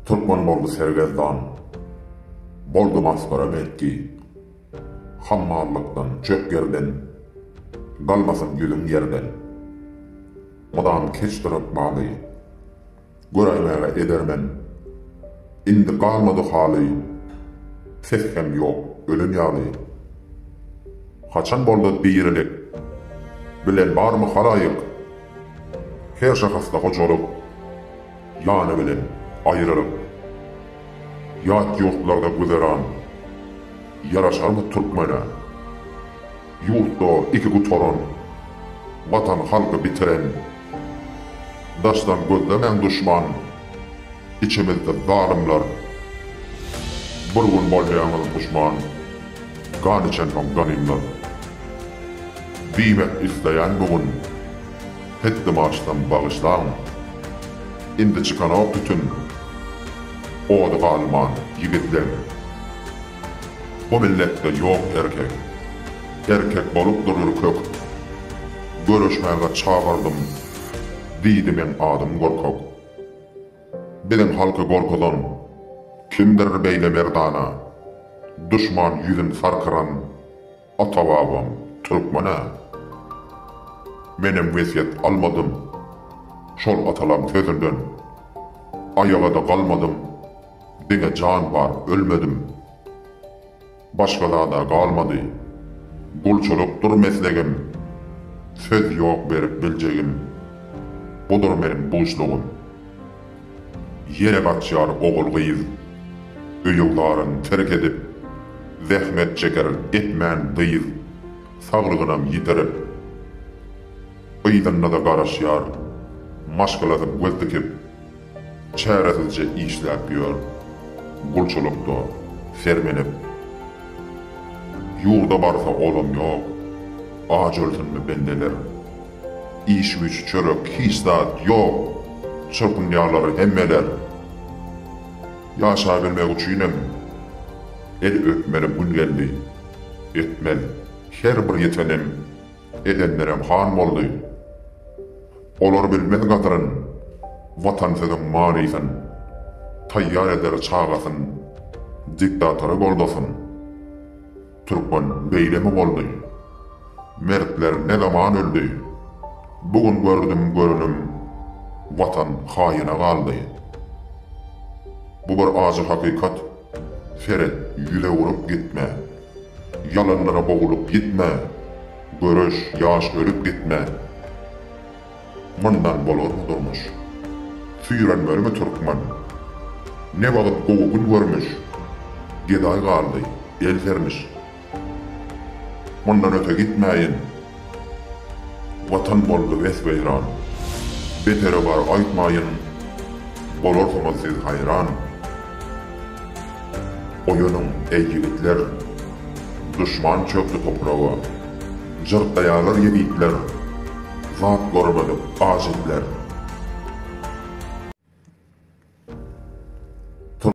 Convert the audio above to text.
Türkmen boldy sergezdan, boldy masgara belki, Hammallykdan, çöp ýerden, galmasyn ýüzüň ýerden. Mydam keçdir ykbaly, göräýmäge edermen, Indi galmady haly, ses hem ýok, ölen ýaly. Haçan boldy dirilik, bilen barmy halaýyk? Her şahasda hojalyk ýany bilen aýrylyp, ýat ýurtlarda güzeran ýaraşarmy türkmene? Ýurtda iki gutaran, watan halky bitiren, daşdan gözlemäň duşman. Içemezler zalymlar Bir gün bolýaňyz duşman Gan içensoň ganymlar Diýmek isleýän bu gün Hetdim açsam bagyşlaň Indi çykanok tütün Ody galman ýigitleň Bu milletde ýok erkek Erkek bolup dur ürkek Göreşmäge çagyrdym Diýdi meň adym gorkak. Biziň halky gorkuzan. Kimdir beýle merdana. Duşman ýüzün sarkyran. Ata babam türkmen-ä. Menem wesýet almadym. Şol atalam sözünden. Aýagada galmadym. Diňe jan bar ölmedim. Başga zada galmady. Gulçulykdyr meslegim. Söz ýok berip biljegim. Budur meniň buşlugym. Ýene gaçýar ogul-gyz. Öýügzaryn terk edip. Zähmet çeker etmän dyz. Saglygynam ýitirip. Yzynda-da garaşýar. Maşgalasy göz dikip. Çäresizje işläp ýör, gulçulykda sermenip. Ýurda barsa olam ýok, aç ölsünmi bendeler. Iş-güýç, çörek, hiç zat ýok, çyrpynýarlar hemmeler. Ýaşabilmek üçinem el öpmeli gün geldi, etmez. Her bir ýetenem, edenlerem han boldy. Olar bilmez gadryn, Watan sözüň manysyn, Taýýar eder çagasyn, Diktatory goldasyn. Türkmen beýlemi boldy? Mertler ne zaman öldi? Bu gün gördüm görenim, Watan haýyna galdy. Bu bir ajy hakykat. Seret, ýüze urup gitme. Ýalanlara boglup gitme. Göreş, ýaş ölüp gitme. Mundan bolarmy durmuş? Süýrenmermi türkmen? Ne wagt gowy gün görmüş? Gedaý galdy, el sermiş. Mundan öte gitmäýin. Watan boldy wes-weýran. Beteri bar aýtmaýyn. Bolarsyňyz siz haýran. Oýanyň, eý ýigitler. Duşman çökdi topraga. Jyrtlaýarlar ýezitler. Zat görmedik ajizler.